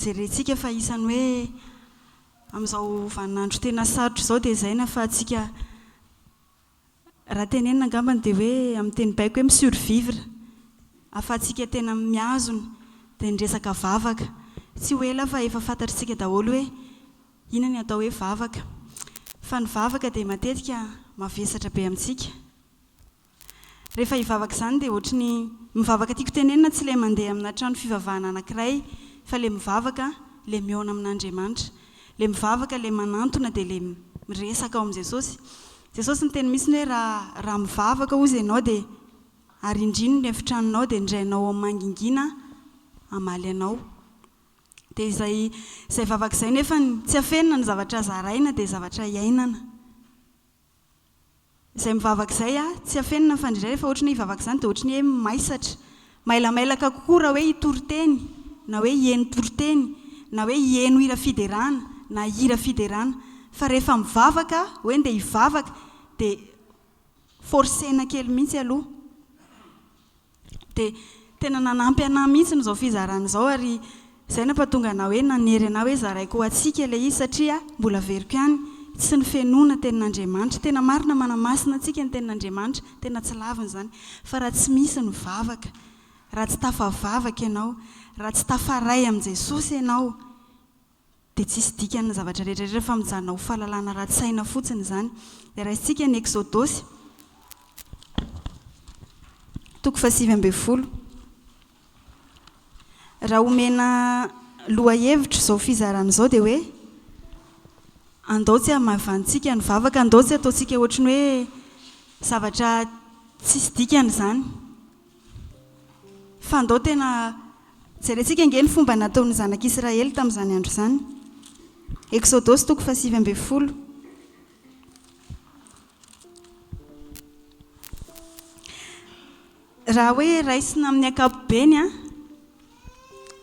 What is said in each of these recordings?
Jerentsika fa isan'ny hoe amin'izao vaninandro tena sarotra izao dia izay nahafahantsika raha tenenina angambany dia hoe amin'ny teny baiko hoe mi-survivre ahafahantsika tena mihazona dia ny resaka vavaka. Tsy ho ela aho fa efa fantatr'isika daholo hoe inona ny atao hoe vavaka fa ny vavaka dia matetika mavesatra be amintsika. Rehefa hivavaka izany dia ohatry ny mivavaka tiako tenenina tsy ilay mandeha amina trano fivavahana anankiray fa ilay mivavaka ilay mihaona amin'Andriamanitra. Ilay mivavaka ilay manantona dia ilay miresaka ao amin'i Jesosy. Jesosy niteny mihitsiny hoe raha raha mivavaka hozy ianao dia arindrino ny efitranonao dia indray anao ao mangingina hamaly anao. Dia izay izay vavaka izay nefany tsy afenina ny zavatra zaraina dia zavatra iainana. Izay mivavaka izay a, tsy afenina ny fandrindraina fa ohatry ny hoe hivavaka izany dia ohatry ny hoe maisatra. Mailamailaka kokoa raha hoe hitory teny, na hoe hieno toriteny, na hoe hieno hira fiderana, na hira fiderana. Fa rehefa mivavaka, hoe ndeha hivavaka, dia forcer-na kely mihitsy aloha. Dia tena nanampy anah mihitsy izao fizarana izao ary izay nampatonga anah hoe nanery anah hoe zaraiko ho antsika ilay izy satria mbola averiko ihany tsy ny fenoana tenin'Andriamanitra. Tena marina manamasina antsika ny tenin'Andriamanitra, tena tsy laviny izany, fa raha tsy misy ny vavaka, raha tsy tafavavaka ianao, raha tsy tafaray amin'i Jesosy ianao, dia tsisy dikany ny zavatra rehetra rehetra fa mijanona ho fahalalana ratsy saina fotsiny izany. Dia raisintsika ny Eksodosy, toko fahasivy ambin'ny folo. Raha omena lohahevitra izao fizarana izao dia hoe, andao tsy hamaivanintsika ny vavaka, andao tsy hataontsika ohatry ny hoe zavatra tsisy dikany izany. Fa ndao tena jerentsika ange ny fomba nataon'ny zanak'Israely tamin'izany andro izany. Eksodosy toko fahasivy ambin'ny folo. Raha hoe raisina amin'ny ankapobeny an,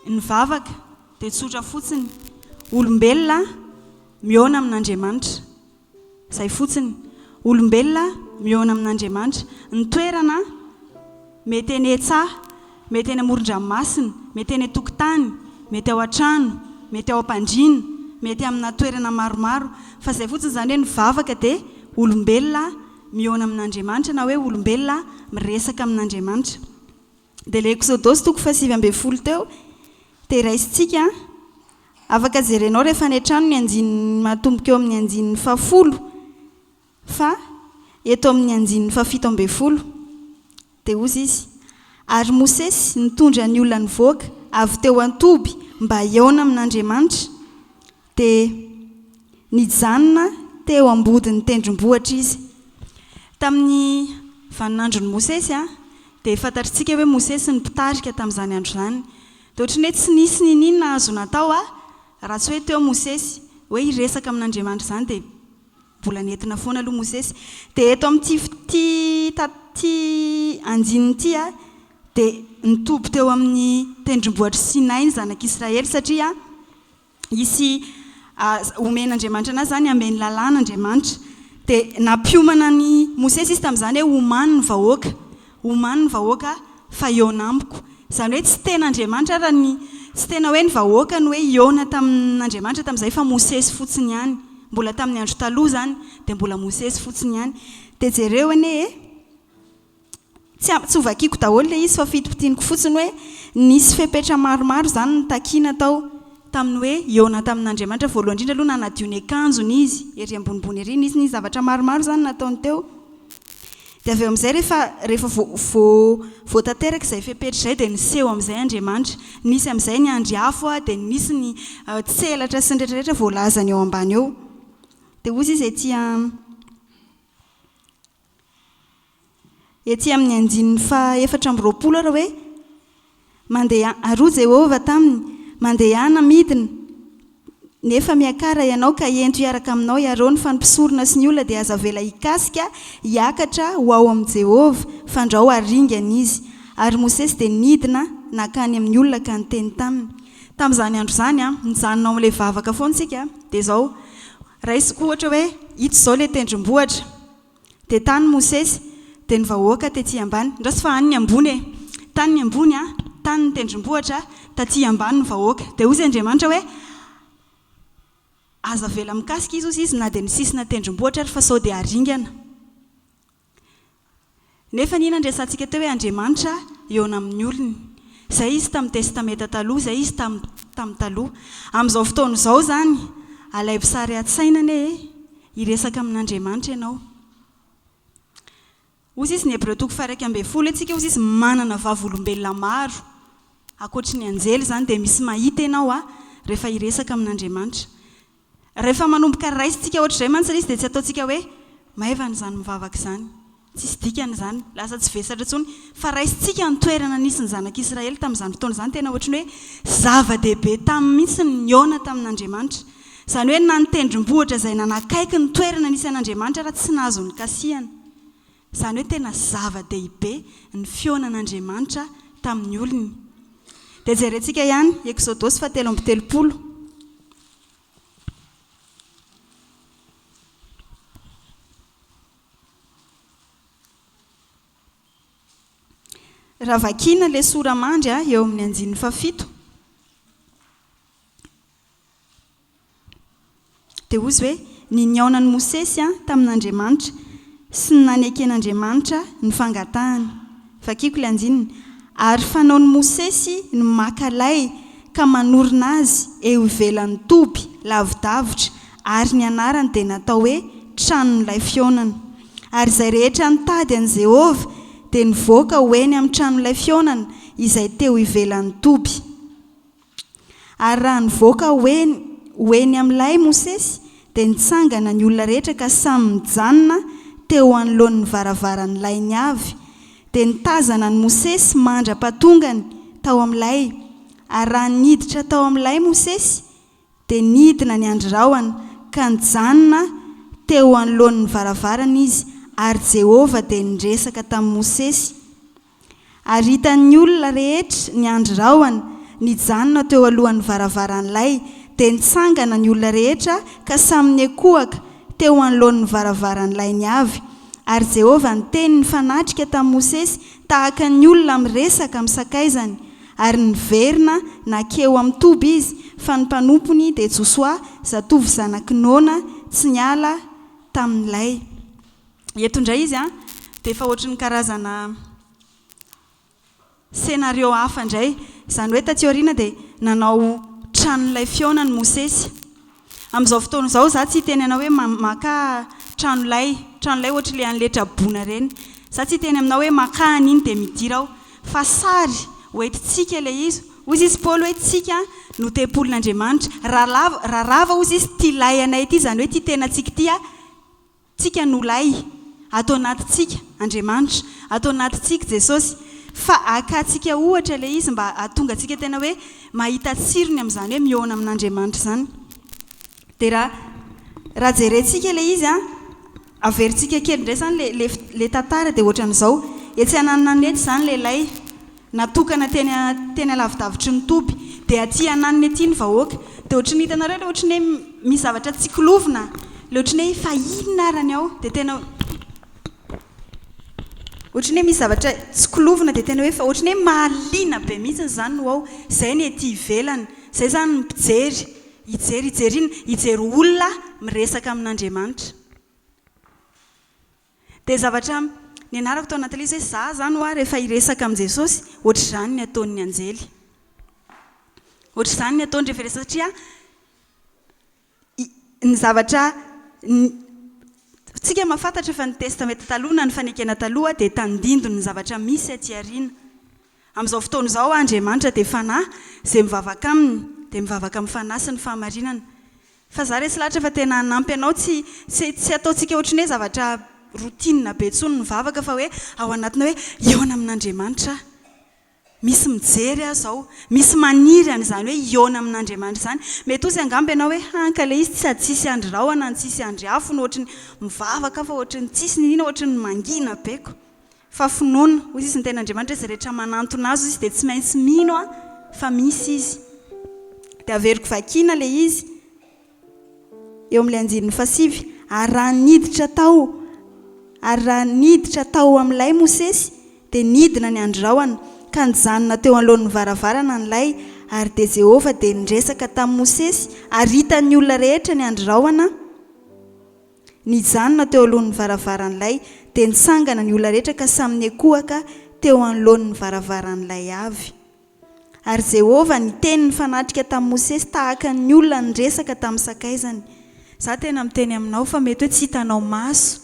ny vavaka dia tsotra fotsiny, olombelona mihaona amin'Andriamanitra. Izay fotsiny. Olombelona mihaona amin'Andriamanitra. Ny toerana, mety eny an-tsaha, mety eny amoron-dranomasina, mety eny an-tokotany, mety ao an-trano, mety ao am-pandriana, mety amina toerana maromaro. Fa izay fotsiny, izany hoe ny vavaka dia olombelona mihaona amin'Andriamanitra na hoe olombelona miresaka amin'Andriamanitra. Dia ilay Eksodosy toko fahasivy ambin'ny folo teo dia raisintsika afaka jerenao rehefa any an-trano ny andininy matomboka eo amin'ny andininy fahafolo fa eto amin'ny andininy fahafito ambin'ny folo dia hozy izy ary Mosesy nitondra ny olona nivoaka avy teo an-toby mba hihaona amin'Andriamanitra dia nijanona teo ambodin'ny tendrombohitra izy. Tamin'ny vaninandron'i Mosesy dia fantatritsika hoe Mosesy ny mpitarika tamin'izany andro izany. Dia ohatry ny hoe tsy nisy n'in'inona azo natao raha tsy hoe teo Mosesy. Hoe hiresaka amin'Andriamanitra izany dia mbola nentina foana aloha Mosesy. Dia eto amin'ity ity andininy ity dia nitoby teo amin'ny tendrombohitr'i Sinay ny zanak'Israely satria hisy homen'Andriamanitra anazy izany, hameno lalàna Andriamanitra. Dia nampiomana an'i Mosesy izy tamin'izany hoe, Omano ny vahoaka, omano ny vahoaka fa hihaona amiko. Izany hoe tsy tena Andriamanitra ary ny, tsy tena hoe ny vahoaka no hoe hihaona tamin'Andriamanitra tamin'izay fa Mosesy fotsiny ihany. Mbola tamin'ny Andro Taloha izany, dia mbola Mosesy fotsiny ihany. Dia jereo anie e! Tsy tsy ho vakiako daholo ilay izy fa fitopitianiko fotsiny hoe nisy fepetra maromaro izany notakiana tao tamin'ny hoe hihaona tamin'Andriamanitra. Voalohany indrindra aloha nanadio ny akanjony izy, ery ambonimbony ery. Nisy nisy zavatra maromaro izany nataony teo. Dia avy eo amin'izay rehefa rehefa vao vao vao tanteraka izay fepetra izay dia niseho amin'izay Andriamanitra. Nisy amin'izay ny andry afo an, dia nisy ny tselatra sy ny rehetra rehetra voalazany eo ambany eo. Dia hoy izy ety an. Etsy amin'ny andininy faha efatra amby roapolo ary hoe, Mandeha, ary hoy Jehovah taminy, Mandehana midina, nefa miakara ianao ka ento hiaraka aminao i Arona, fa ny mpisorona sy ny olona dia aza avela hikasika hiakatra ho ao amin'i Jehovah, fandrao haringana izy. Ary Mosesy dia nidina nankany amin'ny olona ka niteny taminy. Tamin'izany andro izany, mijanona ao amin'ilay vavaka foana isika dia izao, Raisiko ohatra hoe ito izao ilay tendrombohitra, dia tany Mosesy, dia ny vahoaka tety ambany, ndraso fa any ny ambony e, tany ny ambony an, tany ny tendrombohitra, taty ambany ny vahoaka. Dia hoy izy Andriamanitra hoe, Aza avela mikasika izy hozy izy na dia ny sisina tendrombohitra ary fa sao dia haringana. Nefa anie nandresantsika teo hoe Andriamanitra hihaona amin'ny olony. Izay Izy tamin'ny Testameta Taloha, izay Izy tamin'ny tamin'ny taloha. Amin'izao fotoana izao izany, alaivo sary an-tsaina anie e! hiresaka amin'Andriamanitra ianao. Hoy sisa ny Hebreo toko faha-iraika ambin'ny folo hoe Tsika hoy sisa manana vavolombelona maro ankoatry ny anjely izany dia misy mahita ianao an! rehefa hiresaka amin'Andriamanitra. Rehefa manomboka raisintsika ohatr'izay mantsy ilay izy dia tsy ataontsika hoe maivana izany mivavaka izany, tsisy dikany izany, lasa tsy vesatra intsony. Fa raisintsika ny toerana nisy ny zanak'i Israely tamin'izany fotoana izany, tena ohatry ny hoe zava-dehibe taminy mihitsy ny nihaona tamin'Andriamanitra. Izany hoe na ny tendrombohitra izay nanakaiky ny toerana nisy an'Andriamanitra ary tsy nahazo nikasihana. Izany hoe tena zava-dehibe ny fihaonan'Andriamanitra tamin'ny olony. Dia jerentsika ihany Eksodosy fahatelo amby telopolo. Raha vakiana ilay sora-mandry a, eo amin'ny andininy fahafito, dia hozy hoe, Ny nihaonan'i Mosesy tamin'Andriamanitra sy ny naneken'Andriamanitra ny fangatahany. Vakiko ilay andininy, Ary fanaon'i Mosesy ny maka lay ka manorina azy eo ivelan'ny toby, lavidavitra, ary ny anarany dia natao hoe Tranon'ilay Fihaonana. Ary izay rehetra nitady an'i Jehovah dia nivoaka ho eny amin'ny Tranon'ilay Fihaonana izay teo ivelan'ny toby. Ary raha nivoaka ho eny ho eny amin'ilay Mosesy, dia nitsangana ny olona rehetra ka samy nijanona teo anoloan'ny varavaran'ilay ny avy, dia nitazana an'i Mosesy mandra-pahatongany tao amin'ilay, ary raha niditra tao amin'ilay Mosesy, dia nidina ny andry rahona, ka nijanona teo anoloan'ny varavarana izy, ary Jehovah dia niresaka tamin'i Mosesy. Ary hitan'ny olona rehetra ny andry rahona nijanona teo alohan'ny varavaran'ilay, dia nitsangana ny olona rehetra ka samy niankohaka teo anoloan'ny varavaran'ilay ny avy. Ary Jehovah niteny nifanatrika tamin'i Mosesy tahaka ny olona miresaka amin'ny sakaizany, ary niverina nankeo amin'ny toby izy, fa ny mpanompony dia Josoa, zatovo zanak'i Nona, tsy niala tamin'ilay. Eto indray izy an, dia efa ohatry ny karazana scénario hafa indray. Izany hoe taty aoriana dia nanao tranon'ilay fihaonany Mosesy. Amin'izao fotoana izao izaho tsy hiteny anao hoe makà tranolay, tranolay ohatry ilay an'ilay traboina ireny. Izaho tsy hiteny aminao hoe makà an'iny dia midira aho. Fa sary ho entintsika ilay izy. Hoy izy izy Paoly hoe isika no tempolin'Andriamanitra. Raha lava, raha rava hoy izy izy ity lay anay ity, izany hoe ity tenantsika ity an, Tsika no lay. Ato anaty tsika Andriamanitra. Ato anaty tsik Jesosy. Fa aka tsika ohatra le izy mba atonga tsika tena hoe mahita tsirony amzany hoe miona amin'Andriamanitra zany. De ra ra jere tsika le izy an, aver tsika kely ndray zany le le tantara de ohatran'zao, etsy ananan'eto zany le lay. Natokana teny teny alavidavitry ny toby dia aty ananiny aty ny vahoaka dia ohatry ny hitanareo ilay ohatry ny hoe misy zavatra tsy kilovina ilay ohatry ny hoe fa inona ary ny ao dia tena ohatry ny hoe misy zavatra tsy kilovina dia tena hoe fa ohatry ny hoe mahaliana be mihitsy izany no ao izay ny ety ivelany izay izany ny mpijery hijery hijery inona hijery olona miresaka amin'Andriamanitra Dia zavatra nianarako tao anaty lisy hoe za zany hoa rehefa hiresaka amin'i Jesosy, ohatr'izany ny ataon'ny anjely. Ohatr'izany ny ataony rehefa hiresaka satria ny zavatra tsika mahafantatra fa ny testameta taloha na ny fanekena taloha dia tandindon' ny zavatra misy aty aoriana. Amin'izao fotoana izao Andriamanitra dia Fanahy, izay mivavaka aminy dia mivavaka amin'ny Fanahy sy ny fahamarinana. Fa za resy lahatra fa tena hanampy anao tsy tsy tsy ataontsika ohatry ny hoe zavatra routine be tsony ny vavaka fa hoe ao anatina hoe hihaona amin'Andriamanitra aho misy mijery aho zao misy maniry an'izany hoe hihaona amin'Andriamanitra izany mety ozy angamba ianao hoe han ka le izy tsy sady tsisy andry rahona no tsisy andry afo no ohatry ny mivavaka aho fa ohatry ny tsisy n'inona ohatry ny mangina be ko Fa finoana, hoy izy, ny Tenin'Andriamanitra, izay rehetra manantona Azy, hoy izy, dia tsy maintsy mino aho fa misy Izy. Dia averiko vakiana ilay izy eo amin'ilay andininy fahasivy, Ary raha niditra tao, ary raha niditra tao amin'ilay Mosesy, dia nidina ny andrahona, ka nijanona teo anoloan'ny varavarana ny lay, ary dia Jehovah dia niresaka tamin'i Mosesy, ary hitan'ny olona rehetra ny andrahona, Nijanona teo alohan'ny varavaran'ilay dia nitsangana ny olona rehetra ka samy niankohoka teo anoloan'ny varavaran'ilay avy. Ary Jehovah niteny nifanatrika tamin'i Mosesy tahaka ny olona niresaka tamin'ny sakaizany. Izaho tena miteny aminao fa mety hoe tsy hitanao maso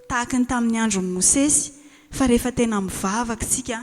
tahaka ny tamin'ny andron'i Mosesy, fa rehefa tena mivavaka isika,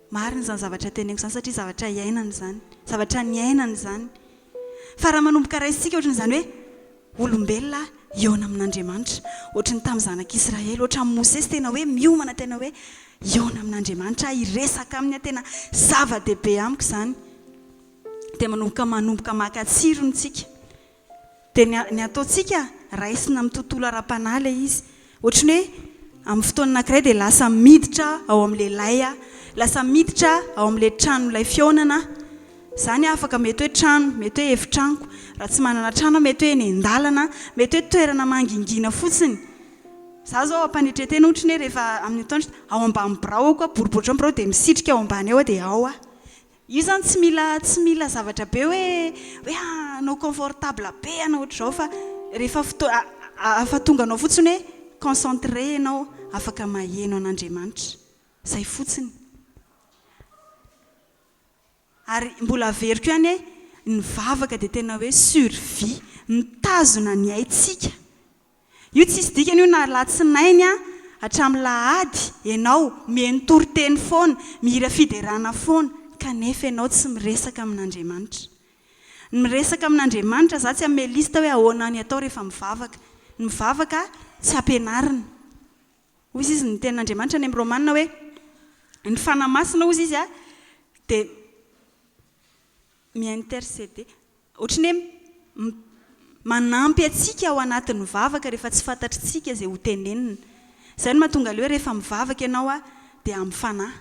Marina izany zavatra teneniko izany satria zavatra iainana izany, zavatra niainana izany. Fa raha manomboka raisintsika ohatry ny izany hoe olombelona hihaona amin'Andriamanitra, ohatry ny tamin'ny zanak'Israely, ohatran'i Mosesy tena hoe miomana tena hoe hihaona amin'Andriamanitra aho, hiresaka aminy aho, tena zava-dehibe amiko izany. Dia manomboka manomboka maka tsirony isika. Dia ny ny ataontsika raisina amin'ny tontolo ara-panahy ilay izy. Ohatry ny hoe amin'ny fotoana anankiray dia lasa miditra ao amin'ilay lay aho. Lasa miditra ao amin'ilay tranon'ilay fihaonana aho. Izany afaka mety hoe trano, mety hoe efitranoko. Raha tsy manana trano aho, mety hoe eny an-dalana, mety hoe toerana mangingina fotsiny. Izaho izao am-panetren-tena ohatry ny hoe rehefa amin'ny atoandro, ao ambany biraoko aho, boribory ohatran'ny birao dia misitrika ao ambany ao aho dia ao aho. Io zany tsy mila tsy mila zavatra be hoe hoe hanao confortable be ianao ohatr'izao fa rehefa fotoa ahafatonga anao fotsiny hoe concentré ianao afaka maheno an'Andriamanitra. Izay fotsiny. Ary mbola averiko ihany hoe ny vavaka dia tena hoe survie. Mitazona ny aintsika Io tsisy dikany io na alatsinainy hatramin'ny lahady ianao mihaino toriteny foana, mihira fiderana foana kanefa ianao tsy miresaka amin'Andriamanitra. Ny miresaka amin'Andriamanitra za tsy hanome liste hoe ahoana ny atao rehefa mivavaka. Ny mivavaka tsy ampianarina. Hozy izy ny tenin'Andriamanitra any amin'ny Romana hoe ny fanahy masina hozy izy dia mi interceder. Ohatran'ny hoe manampy antsika ao anatin'ny vavaka rehefa tsy fantatritsika izay ho tenenina. Izay no mahatonga ilay hoe rehefa mivavaka ianao a, dia amin'ny fanahy.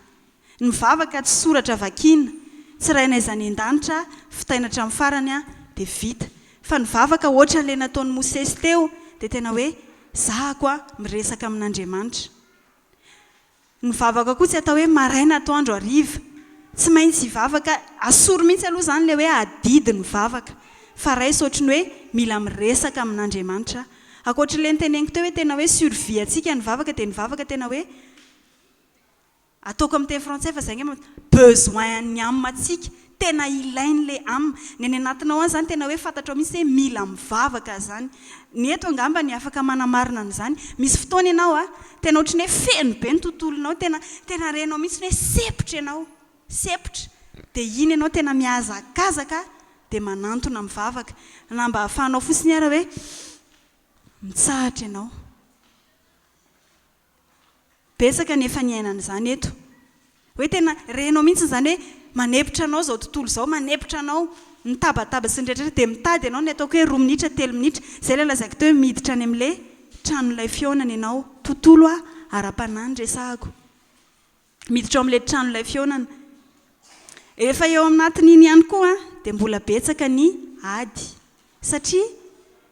Ny mivavaka tsy soratra vakiana, tsy rainay izany endanitra, fitaina hatramin'ny farany a, dia vita. Fa ny vavaka ohatran'ilay nataon'i Mosesy teo, dia tena hoe zahako a, miresaka amin'Andriamanitra. Ny vavaka koa tsy atao hoe maraina, atoandro, hariva. Tsy maintsy hivavaka, asoro mihitsy aloha izany ilay hoe adidy ny vavaka, fa raiso ohatry ny hoe mila miresaka amin'Andriamanitra. Ankoatry ilay noteneniko teo hoe tena hoe survie antsika ny vavaka dia ny vavaka tena hoe, ataoko amin'ny teny frantsay fa izay angamba, besoin-n'ny âme-ntsika. Tena ilainy le am. Ny any anatinao any zany tena hoe fantatrao mihitsy hoe mila mivavaka zany. Ny eto angamba ny afaka manamarina an'izany. Misy fotoana ianao a, tena ohatry ny hoe feno be ny tontolonao, tena tena renao mihitsy ny hoe sempotra ianao, sempotra. Dia iny ianao tena mihazakazaka dia manantona mivavaka. Na mba ahafahanao fotsiny ara hoe mitsahatra ianao. Betsaka ny efa niainana izany eto. Hoe tena renao mihitsy izany hoe manepitra anao izao tontolo izao, manepitra anao, ny tabataba sy ny rehetrarehetra dia mitady ianao ny ataoko hoe roa minitra, telo minitra, izay ilay lazaiko teo hoe miditra any amin'ilay tranon'ilay fihaonana ianao. Tontolo ara-panahy no resahako. Miditra ao amin'ilay tranolay fihaonana. Efa eo anatin'iny ihany koa dia mbola betsaka ny ady. Satria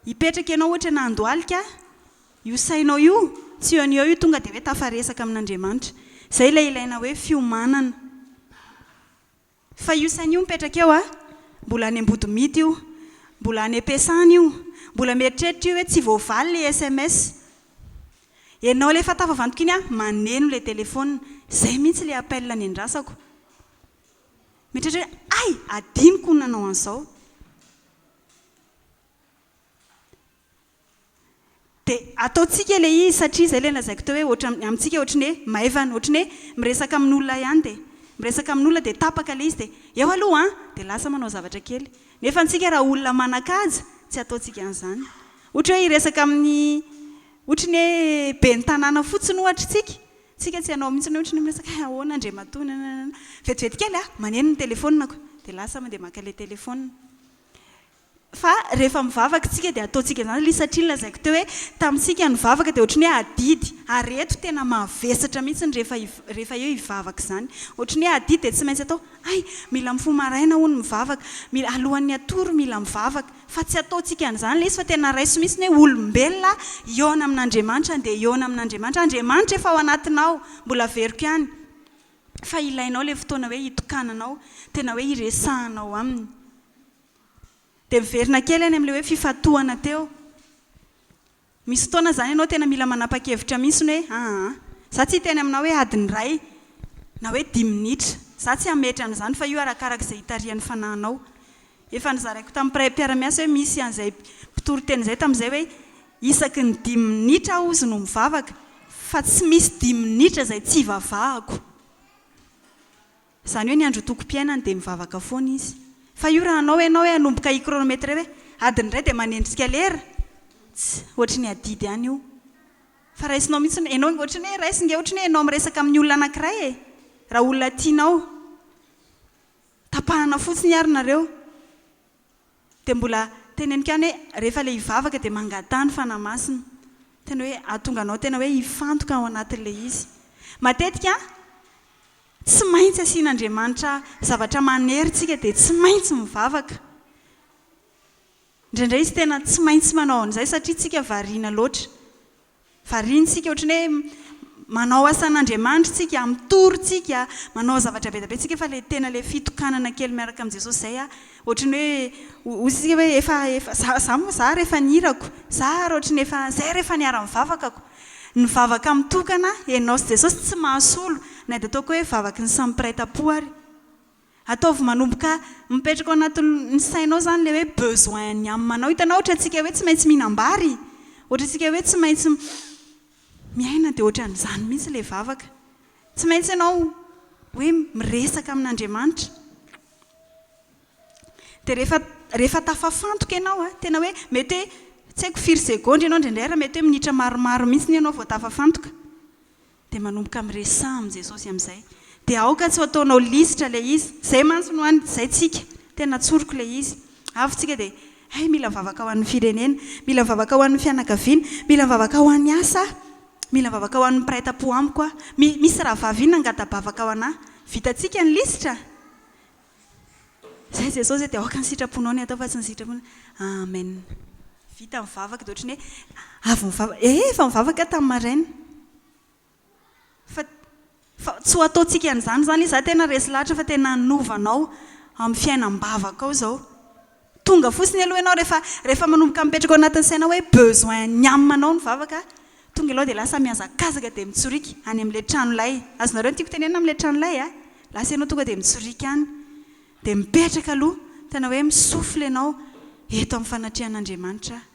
hipetraka ianao ohatra eny Andohalika, io sainao io, tsy eo no eo io tonga dia hoe tafaresaka amin'Andriamanitra. Izay ilay ilaina hoe fiomanana. Fa io saina io mipetraka eo a, mbola any ambodimity io, mbola any am-piasana io, mbola mieritreritra io hoe tsy voavaly ilay sms. Ianao ilay efa tafavantoka iny a, maneno ilay telefaonina. Izay mihitsy ilay appel niandrasako. Mieritreritra hoe, hay! Hadinoko ny nanao an'izao. Dia ataontsika ilay izy satria izay ilay lazaiko teo hoe ohatran'ny amintsika ohatran'ny hoe maivana, ohatran'ny hoe miresaka amin'olona ihany dia miresaka amin'olona dia tapaka ilay izy dia eo aloha an! dia lasa manao zavatra kely. Nefa antsika raha olona manan-kaja tsy ataontsika an'izany. Ohatra hoe hiresaka amin'ny ohatran'ny hoe ben'ny tanàna fotsiny ohatra isika, isika tsy hanao mihitsy hoe ohatran'ny hoe miresaka hoe ahoana Andriamatoa nanananana. Vetivety kely an! maneno ny telefaonina ko dia lasa mandeha maka ilay telefaonina. Fa rehefa mivavaka isika dia ataontsika izany aloha izy satria nolazaiko teo hoe tamintsika ny vavaka dia ohatry ny hoe adidy ary eto tena mavesatra mihitsy ny rehefa rehefa eo hivavaka izany ohatry ny hoe adidy dia tsy maintsy atao hay mila mifoha maraina hono mivavaka mila alohan'ny hatory mila mivavaka fa tsy ataontsika an'izany ilay izy fa tena raiso mihitsy ny hoe olombelona hihaona amin'Andriamanitra andeha hihaona amin'Andriamanitra Andriamanitra efa ao anatinao mbola averiko ihany fa ilainao ilay fotoana hoe hitokananao tena hoe hiresahanao aminy. Dia miverina kely any amin'ilay hoe fifantohana teo. Misy fotoana izany ianao tena mila manapa-kevitra mihitsy hoe aa, izaho tsy hiteny aminao hoe adiny iray na hoe dimy minitra. Izaho tsy hametra an'izany fa io arakaraka izay hitarihan'ny fanahinao. Efa nozaraiko tamin'ny mpiray mpiara-miasa hoe misy an'izay mpitory teny izay tamin'izay hoe isaky ny dimy minitra aho hozy no mivavaka fa tsy misy dimy minitra izay tsy ivavahako. Izany hoe ny androtokom-piainany dia mivavaka foana izy. Fa io raha hanao ianao hoe hanomboka hi-chronometrer hoe adiny iray dia manendrika lera, tss, ohatry ny adidy ihany io. Fa raisinao mihitsy ny hoe, ianao ohatry ny hoe raisiny nge ohatry ny hoe ianao miresaka amin'ny olona anankiray e! Raha olona tianao. Tapahana fotsiny ary nareo. Dia mbola teneniko ihany hoe rehefa ilay hivavaka dia mangataha ny Fanahy Masina. Tena hoe hahatonga anao tena hoe hifantoka ao anatin'ilay izy. Matetika tsy maintsy asian'Andriamanitra zavatra manery isika dia tsy maintsy mivavaka. Indraindray izy tena tsy maintsy manao an'izay satria isika variana loatra. Variantsika ohatran'ny hoe manao asan'Andriamanitra tsika, mitory tsika, manao zavatra be dia be tsika fa ilay tena ilay fitokanana kely miaraka amin'i Jesosy izay a, ohatran'ny hoe hoy isika hoe efa efa za za moa za ary efa ny hirako, za ary ohatran'ny efa zay ary efa niharan'ny vavakako. Ny vavaka mitokana ianao sy Jesosy tsy mahasolo na dia ataoko hoe vavaky ny samy mpiray tam-po ary. Ataovy manomboka mipetraka ao anatin'ny sainao izany ilay hoe besoin ny am anao. Hitanao ohatrantsika hoe tsy maintsy mihinam-bary? Ohatrantsika hoe tsy maintsy miaina dia ohatran'izany mihitsy ilay vavaka. Tsy maintsy ianao hoe miresaka amin'Andriamanitra. Dia rehefa rehefa tafafantoka ianao, tena hoe mety hoe tsy haiko firy segondra ianao indraindray ary mety hoe minitra maromaro mihitsy ianao vao tafafantoka. Dia manomboka miresaha amin'i Jesosy amin'izay. Dia aoka tsy ho ataonao lisitra ilay izy. Izay mantsy no any, izay tsika. Tena tsoriko ilay izy. Avy tsika dia, Hay, mila mivavaka ho an'ny firenena. Mila mivavaka ho an'ny fianakaviana. Mila mivavaka ho an'ny asa aho. Mila mivavaka ho an'ny mpiray tampo amiko aho. Mi, misy rahavavy iny nangata-bavaka ho anà. Vitantsika ny lisitra? Zay Jesosy e, dia aoka ny sitraponao ny hatao fa tsy ny sitraponay. Amen. Vita mivavaka dia ohatran'ny hoe avy nivavaka. Ee, efa nivavaka aho tamin'ny maraina. Fa fa tsy ho ataontsika an'izany izany izy. Izaho tena resy lahatra fa tena hanova anao amin'ny fiainam-bavakao izao. Tonga fotsiny aloha ianao rehefa rehefa manomboka mipetraka ao anatin'ny sainao hoe besoin ny amanao ny vavaka tonga ianao dia lasa mihazakazaka dia mitsorika any amin'ilay trano lay. Azonareo ny tiako tenenina amin'ilay trano lay a? Lasa ianao tonga dia mitsorika any. Dia mipetraka aloha, tena hoe mi-souffle ianao, eto amin'ny fanatrehan'Andriamanitra aho.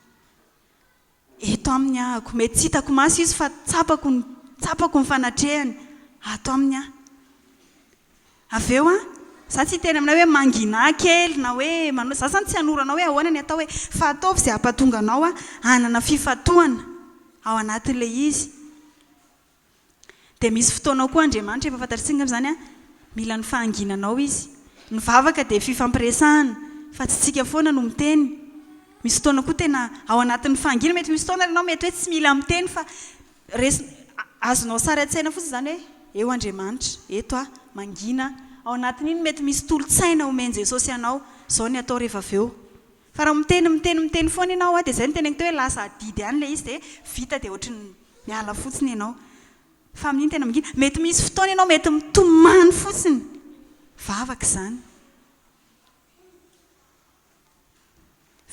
Eto aminy ahako. Mety tsy hitako maso izy fa tsapako ny tsapako ny fanatrehany ato aminy aho. Avy eo an, izaho tsy hiteny aminao hoe mangina kely na hoe manao, izaho izany tsy hanoro anao hoe ahoana ny atao hoe, fa ataovy izay hampatonga anao hanana fifantohana ao anatin'ilay izy. Dia misy fotoanao koa Andriamanitra, efa fantatrtsika angamba izany an, mila ny fahanginanao Izy. Ny vavaka dia fifampiresahana, fa tsy tsika foana no miteny. Misy fotoana koa tena ao anatin'ny fahanginana, mety misy fotoana ary ianao mety hoe tsy mila miteny fa resin-, azonao sary an-tsaina fotsiny izany hoe eo Andriamanitra, eto aho, mangina aho. Ao anatin'iny mety misy tolon-tsaina omen'i Jesosy anao, izao ny atao rehefa avy eo. Fa raha miteny miteny miteny foana ianao dia izay no teneniko teo hoe lasa adidy ihany ilay izy dia vita dia ohatry ny miala fotsiny ianao fa amin'iny tena mangina. Mety misy fotoana ianao mety mitomany fotsiny vavaka izany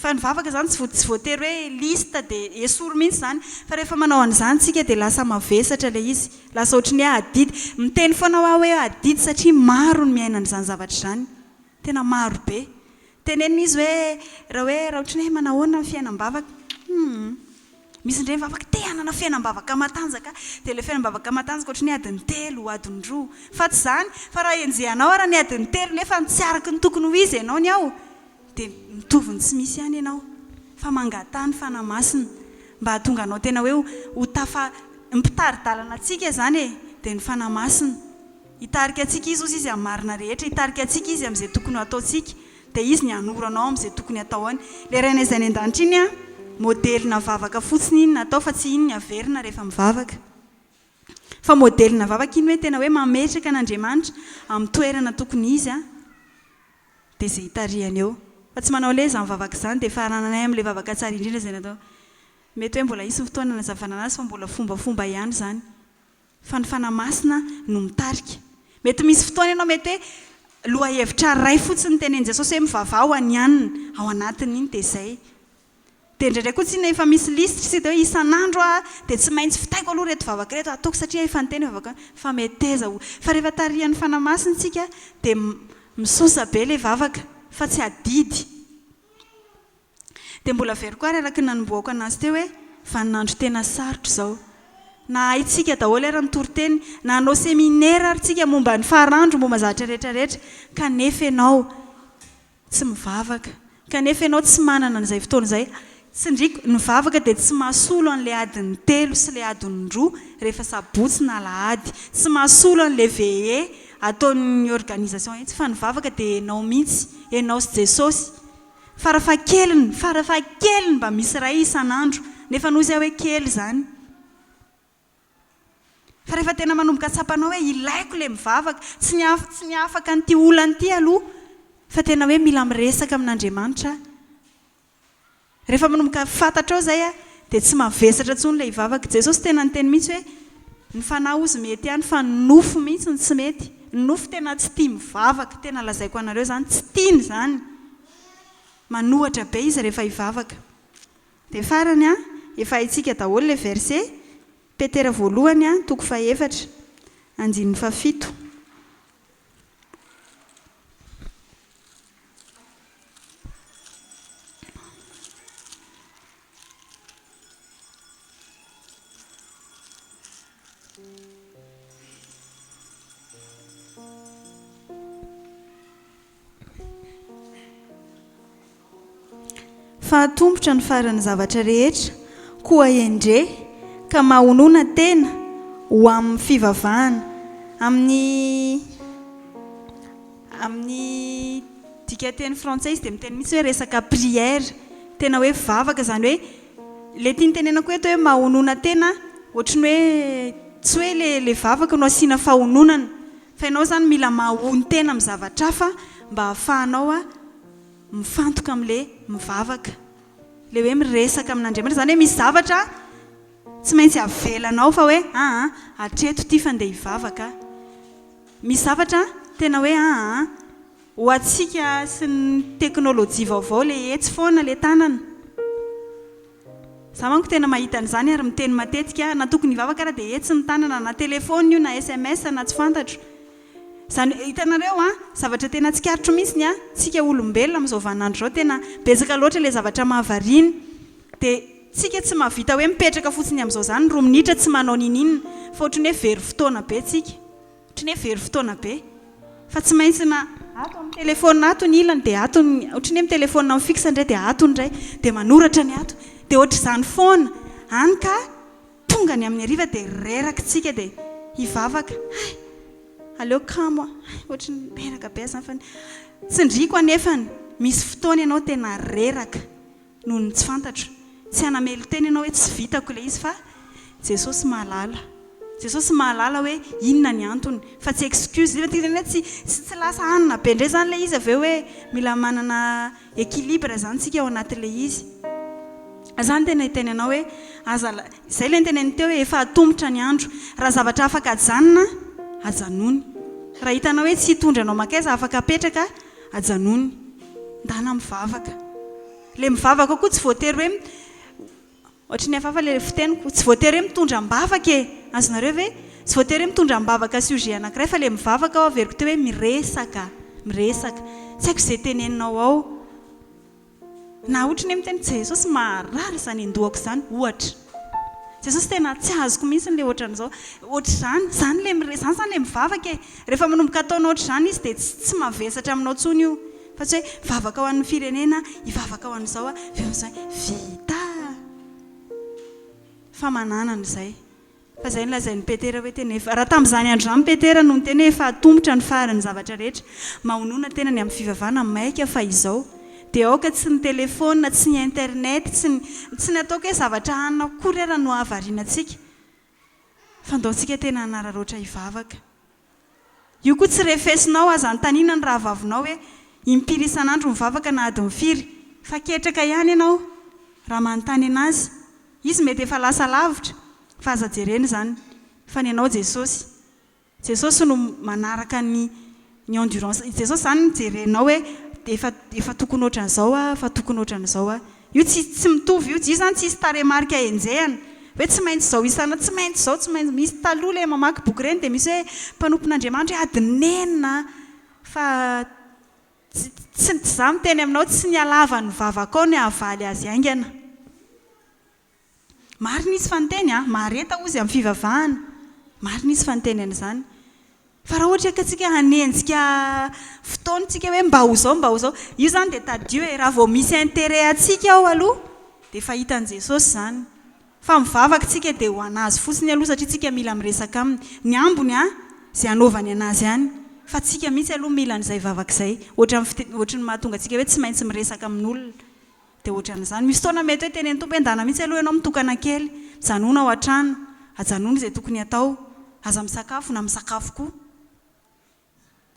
fa ny vavaka izany tsy voatery hoe liste dia esory mihitsy izany fa rehefa manao an'izany isika dia lasa mavesatra ilay izy lasa ohatry ny hoe adidy. Miteny foana aho hoe adidy satria maro ny miaina an'izany zavatra izany tena maro be Tenenina izy hoe, Raha hoe rahotriny hoe manahoana ny fiainam-bavaka? Humm. Misy indray mivavaka, Te hanana fiainam-bavaka matanjaka. Dia ilay fiainam-bavaka matanjaka ohatry ny hoe adiny telo, adiny roa. Fa tsy izany. Fa raha enjehanao ary ny adiny telo nefa tsy araka ny tokony ho izy ianao ny ao, dia mitovy ny tsy misy ihany ianao. Fa mangataha ny Fanahy Masina mba hahatonga anao tena hoe ho tafa, ny mpitari-dalana antsika izany e, dia ny Fanahy Masina. Hitarika antsika Izy, hozy Izy, amin'ny marina rehetra. Hitarika antsika Izy amin'izay tokony ho ataontsika. Dia Izy ny hanoro anao amin'izay tokony hatao any. Ilay Rainay Izay any An-danitra iny, modelina vavaka fotsiny iny natao fa tsy iny ny haverina rehefa mivavaka. Fa modelina vavaka iny hoe tena hoe mametraka an'Andriamanitra amin'ny toerana tokony izy, dia izay itarihany eo. Fa tsy manao hoe izany vavaka izany dia farananay amin'ilay vavaka tsara indrindra izay natao. Mety hoe mbola hisy ny fotoana hanazavana an'azy fa mbola fombafomba ihany izany. Fa ny Fanahy Masina no mitarika. Mety misy fotoana ianao mety hoe lohahevitra iray fotsiny tenenin'i Jesosy hoe mivavaha ho anianina ao anatin'iny dia izay. Dia indraindray koa tsinona efa misy lisitra isika dia hoe isan'andro aho dia tsy maintsy vitaiko aloha ireto vavaka ireto ataoko satria efa niteny ny vavaka fa meteza ho. Fa rehefa tarihan'ny Fanahy Masina isika dia misosa be ilay vavaka fa tsy adidy. Dia mbola averiko ary araka ny nanombohako anazy teo hoe, vaninandro tena sarotra izao. Na haintsika daholo ary ny toriteny, na hanao seminera ary tsika momba ny faranro, momba ny zavatra rehetra rehetra, kanefa ianao tsy mivavaka, kanefa ianao tsy manana an'izay fotoana izay, tsindriako, ny vavaka dia tsy mahasolo an'ilay adin'ny telo sy ilay adin'ny roa rehefa sabotsy na alahady, tsy mahasolo an'ilay veillée ataon'ny organisation etsy, fa ny vavaka dia ianao mihitsy, ianao sy Jesosy. Farafahakeliny, farafahakeliny mba misy iray isan'andro, nefa noho izay hoe kely izany. Fa rehefa tena manomboka tsapanao hoe ilaiko ilay mivavaka, tsy ny hafa, tsy ny afaka an'ity olana ity aloha, fa tena hoe mila miresaka amin'Andriamanitra aho. Rehefa manomboka fantatrao izay dia tsy mavesatra intsony ilay hivavaka. Jesosy tena niteny mihitsy hoe. Ny fanahy ozy mety ihany fa ny nofo mihitsy no tsy mety. Ny nofo tena tsy tia mivavaka, tena lazaiko anareo izany, tsy tiany izany. Manohatra be izy rehefa hivavaka. Dia farany an, efa haintsika daholo ilay verse, Petera voalohany an, toko fahefatra, andininy fahafito. Fahatombotra ny faran'ny zavatra rehetra, koa endre ka mahonona tena ho amin'ny fivavahana, amin'ny. Amin'ny dikanteny frantsay izy dia miteny mihitsy hoe resaka prière, tena hoe vavaka, izany hoe ilay tiany tenenako eto hoe mahonona tena ohatry ny hoe tsy hoe ilay vavaka no asiana fahononana fa ianao izany mila mahonon-tena amin'ny zavatra hafa mba hahafahanao mifantoka amin'ilay mivavaka, ilay hoe miresaka amin'Andriamanitra, izany hoe misy zavatra tsy maintsy avelanao fa hoe aa hatreto ity fa ndeha hivavaka aho. Misy zavatra tena hoe aa an! Ho antsika sy ny teknolojia vaovao le etsy foana le tanana. Za manko tena mahita an'izany ary miteny matetika aho, na tokony hivavaka ara dia etsy ny tanana, na telefaonina io na sms na tsy fantatro. Izany hoe hitanareo an! Zavatra tena tsikaritro mihintsy ny an! Tsika olombelona amin'izao vaninandro izao tena betsaka loatra le zavatra mahavariana. Dia tsika tsy mahavita hoe mipetraka fotsiny amin'izao izany roa minitra tsy manao niniana fa ohatry ny hoe very fotoana be tsika. Ohatry ny hoe very fotoana be. Fa tsy maintsy na ato amin'ny telephone ato ny ilany dia ato ny, ohatry ny hoe mi-telephone amin'ny fixe indray dia ato ny iray, dia manoratra ny ato. Dia ohatr'izany foana. Hany ka tonga ny amin'ny hariva dia reraka tsika dia hivavaka. Hay! Aleo kamo aho. Hay! Ohatry ny reraka be aza izany fa ny. Tsindriako anefany, misy fotoana ianao tena reraka. noho ny tsy fantatro. Tsy hanamelo tena ianao hoe tsy vitako ilay izy fa Jesosy mahalala. Jesosy mahalala hoe inona ny antony fa tsy excuse. Izay izany hoe tsy tsy lasa hanina be indray izany ilay izy avy eo hoe mila manana equilibre izany isika ao anatin'ilay izy. Izany no tena hiteny anao hoe aza izay ilay noteneniny teo hoe efa atomotra ny andro. Raha zavatra afaka ajanona ajanony. Raha hitanao hoe tsy hitondra anao mankaiza afaka apetraka. Ajanony. Ndana mivavaka. Ilay mivavaka koa tsy voatery hoe, ohatry ny hafahafa ilay fiteniko, tsy voatery hoe mitondra am-bavaka e! Azonareo ve? Tsy voatery hoe mitondra am-bavaka sujet anankiray fa ilay mivavaka aho averiko teo hoe miresaka, miresaka. Tsy haiko izay teneninao ao. Na ohatry ny hoe miteny Jesosy maharary izany hindoako izany ohatra. Jesosy tena tsy azoko mihitsy ilay ohatran'izao. Ohatr'izany izany ilay miresaka, izany izany ilay mivavaka e. Rehefa manomboka ataonao ohatr'izany izy dia tsy mavesatra aminao intsony io. Fa tsy hoe hivavaka ho an'ny firenena aho, hivavaka ho an'izao aho, avy eo amin'izay vita! Fa manana an'izay. Fa izay nolazain'i Petera hoe tena efa. Raha tamin'izany andro izany Petera no niteny hoe efa atombotra ny faran'ny zavatra rehetra, mahonona tena ny amin'ny fivavahana maika fa izao dia aoka tsy ny telefaonina, tsy ny internet, tsy ny, tsy ny ataoko hoe zavatra hanina akory ara no hahavariana antsika fa andaontsika tena hanararaotra hivavaka. Io koa tsy refesinao aza anontaniana ny rahavavinao hoe impiry isan'andro mivavaka na adiny firy fa ketraka ihany ianao raha manontany anazy. Izy mety efa lasa lavitra fa aza jerena izany fa ny anao Jesosy. Jesosy no manaraka ny ny endurance. I Jesosy izany no jerenao hoe efa efa tokony ohatran'izao aho, efa tokony ohatran'izao aho. Io tsy tsy mitovy io, io zany tsisy tarehimarika enjehana hoe tsy maintsy izao isana, tsy maintsy izao, tsy maintsy, misy taloha le mamaky boky ireny dia misy hoe mpanompon'Andriamanitra hoe ady nenina an! fa tsy tsy tsy za miteny aminao tsy ny halavan'ny vavakao ny hahavaly azy haingana. Marina izy fa niteny a! Mahareta ozy amin'ny fivavahana. Marina izy fa niteny an'izany. Fa raha ohatra ka tsika hanenjika fotoana tsika hoe mba ho zao mba ho zao, io zany dia tadidio e! Raha vao misy intérêt antsika ao aloha dia efa hitan'i Jesosy izany. Fa mivavaka tsika dia ho an'Azy fotsiny aloha satria tsika mila miresaka Aminy. Ny ambony a! Izay hanaovany an'Azy any. Fa tsika mihitsy aloha mila an'izay vavaka izay. Ohatran'ny ohatran'ny mahatonga antsika hoe tsy maintsy miresaka amin'olona. Dia hoatran'izany. Misy fotoana mety hoe teny ny Tompo hoe ndana mihitsy aloha ianao mitokana kely. Mijanona ao an-trano. Ajanony izay tokony hatao. Aza misakafo na misakafo koa.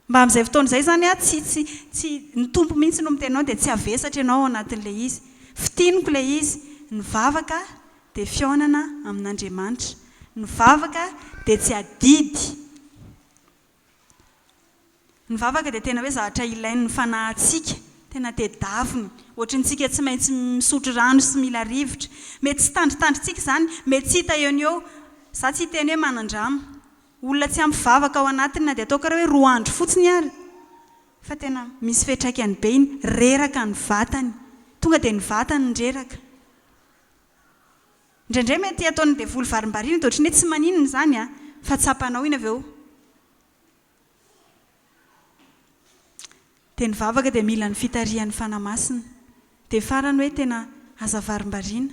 Mba amin'izay fotoana izay izany an, tsy, tsy, tsy, ny Tompo mihitsy no miteny anao dia tsy havesatra ianao ao anatin'ilay izy. Fintiniko ilay izy. Ny vavaka dia fihaonana amin'Andriamanitra. Ny vavaka dia tsy adidy. Ny vavaka dia tena hoe zavatra ilain'ny fanahintsika, tena tedaviny, ohatry ny tsika tsy maintsy misotro rano sy mila rivotra. Mety tsy tandritandrintsika izany, mety tsy hita eo no eo. Izaho tsy hiteny hoe manan-dramo. Olona tsy ampy vavaka ao anatiny na dia ataoko ary hoe roa andro fotsiny ary, fa tena misy fiantraikany be iny, reraka ny vatany, tonga dia ny vatany no reraka. Indraindray mety ataon'ny devoly varimbariana de ohatry ny hoe tsy maninona izany an, fa tsapanao iny avy eo. Dia ny vavaka dia mila ny fitarihan'ny Fanahy Masina. Dia farany hoe tena aza varimbariana,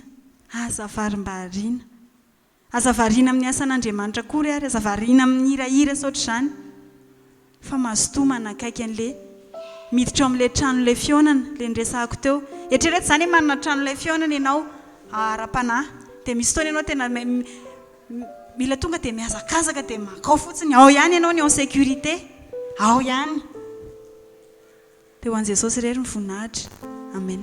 aza varimbariana. Aza variana amin'ny asan'Andriamanitra akory ary aza variana amin'ny hirahira saotr'izany. Fa mazotoa manakaiky an'le miditra ao amin'ilay tranon'ilay fihaonana, ilay niresahako teo. Eritrereto izany hoe manana tranon'ilay fihaonana ianao ara-panahy, dia misy fotoana ianao tena mila tonga dia mihazakazaka dia makao fotsiny, ao ihany ianao ny en sécurité, ao ihany. Dia ho an'i Jesosy irery ny voninahitra. Amen.